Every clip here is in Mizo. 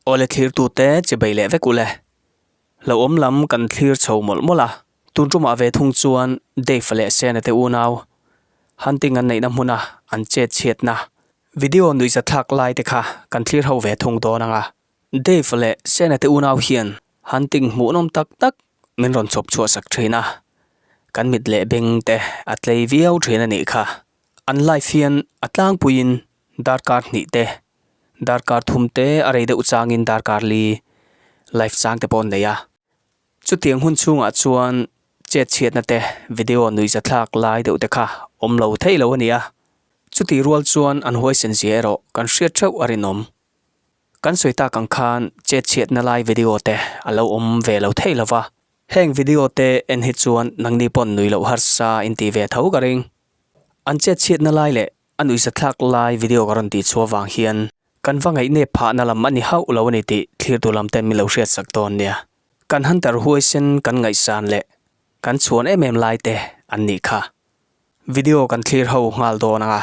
Aw le thlir tu te che bei leh vek u le. Lo awm lam kan thlir chho mawlh mawlh a. Tun tumah ve thung chuan Dave leh Sean-a te unau Hunting an neihna hmuna an chet chhiatna video nuihzatthlak lai te kha kan thlir ho ve thung dawn ang a. Dave leh Siena te unau hian han tinghmuhnawm tak tak min rawn chawp chhuahsak thin a, kan mit leh beng te a tlei viau thin a nih kha. An life hian a tlangpuiin darkar hnih te, darkar thum te a rei deuh changin darkar li life chang te pawh an nei a. Chutiang hun chungah chuan chet chhiatna te, video nui zathlak lai deuh te kha awm lo thei lo a nia. Chutih rual chuan an huaisen zia erawh kan hriat theuh a rinawm. Kan sawi tak ang khan chetchhiatna lai video te a lo awm ve lo thei lo va. Heng video te en hi chuan nangni pawn nui loh harsa in ti ve tho ka ring. An chetchhiatna lai leh a nuisa thlak lai video ka rawn ti chhuah vang hian kan va ngaih nep phahna lam a ni hauh lo a ni tih thlir duh lam ten min lo hriat sak dawn nia. Kan hunter huaisen kan ngaihsan leh kan chhuan em em lai te an nih kha. Video kan thlir ho nghal dawn ang a,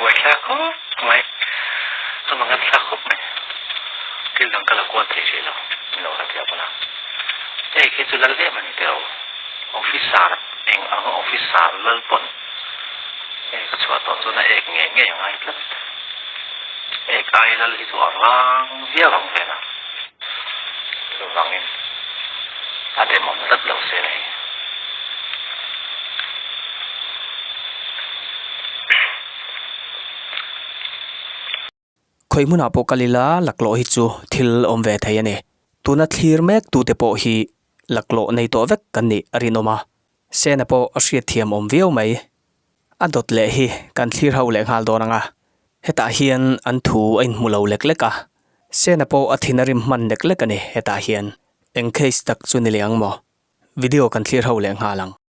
Buai thla khawp mai, a mang em thla khawp mai, thil dang ka la kual thei rih lo, min lo hlat leh pawn a, hei khi chu lal em a ni teo, officer eng ang officer lal pawn hei ka chhuah tawh chuan a ek ngei ngei a ngai tlat, ek ai lal hi chu a rang viau ang vel a, chuvangin a demawm tlat lo se a ni. Khawih hmunah pawh kal ila laklawh hi chu thil awm ve thei a ni. Tuna thlir mek tu te pawh hi laklawh nei tawh vek kan nih a rinawm a. Sena pawh a hriatthiam awm viau mai. A dawt leh hi kan thlir ho leh nghal dawn ang a. Hetah hian an thu a inhmu lo lek lek a. Sena pawh a thin a rim hman lek lek a ni hetah hian. Eng case tak chu ni le ang maw? Video kan thlir ho leh nghal ang.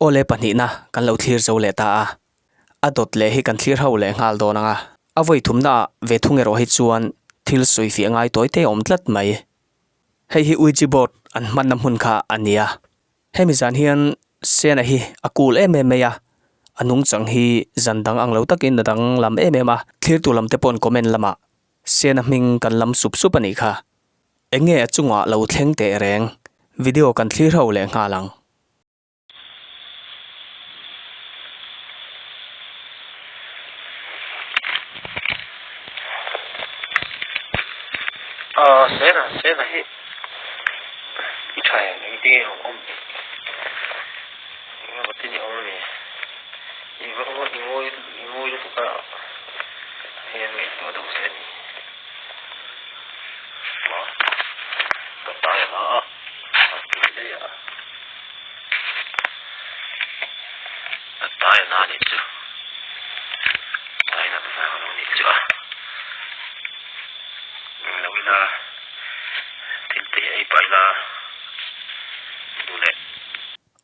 Aw le pahnihna kan lo thlir zo leh ta a, a dawt leh hi kan thlir ho leh nghal dawn ang a, a vawi thumna ah ve thung erawh hi chuan thil sawi fiah ngai tawi te a awm tlat mai. Hei hi Ouija board an hmanna hmun kha a ni a, hemi zan hian Sian-a hi a cool em em mai a, a nungchang hi zan dang ang lo tak in a dang lam em em a, thlir tur lam te pawh comment lamah Sian-a hming kan lam sup sup a nih kha. Eng nge a chungah lo thleng teh reng? Video kan thlir ho leh nghal ang.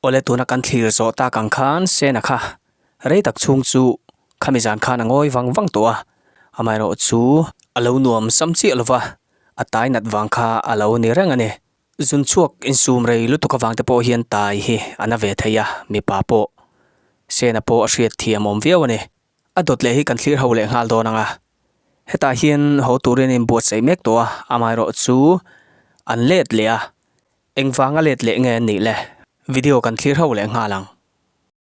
Awle tuna kan thlir zawh ta kang khan Sena kha rei tak chhung chu khami zan khan a ngawi vang vang tawh a, amaherawh chu a lo nuam sam chiah lo va, a tai nat vang kha a lo ni reng a ni. Zun chhuak insum rei lutuk avang te pawh hian tai hi a na ve thei a, mipa pawh Sena pawh a hriat thiam awm viau a ni. A dawt leh hi kan thlir ho leh nghal dawn ang a, hetah hian haw turin a inbuatsaih mek tawh a, amaherawh chu an let leh a, engvang a let leh nge an nih le, video kan thlir ho leh nghal ang.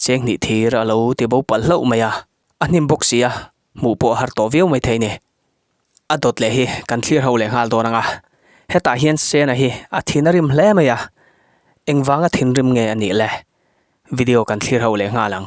Cheng hnih thir a lo ti bo palh hlauh mai a, a hnim bawk sia, hmuh pawh a har tawh viau mai thei ni. A dawt leh hi kan thlir ho leh nghal dawn ang a, hetah hian Sena hi a thin a rim hle mai a, engvanga thinrim nge a nih le? Video kan thlir ho leh nghal ang.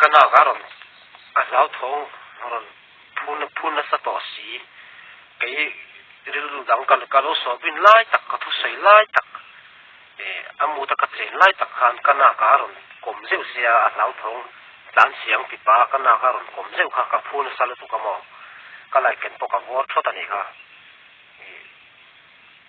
Ka nak a rawn a hlauthawh ang, a rawn phun phun nasa tawh si. Kei rilru dang ka ka lo sualbin lai tak, ka thusawi lai tak, eh a mut a ka chen lai tak khan ka nak a rawn kawm zeuh si a, a hlauthawng tlan si ang tih pa ka nak a rawn kawm zeuh kha ka phun nasa lutuk a maw, ka laiken pawh ka vuar thawt a ni kha.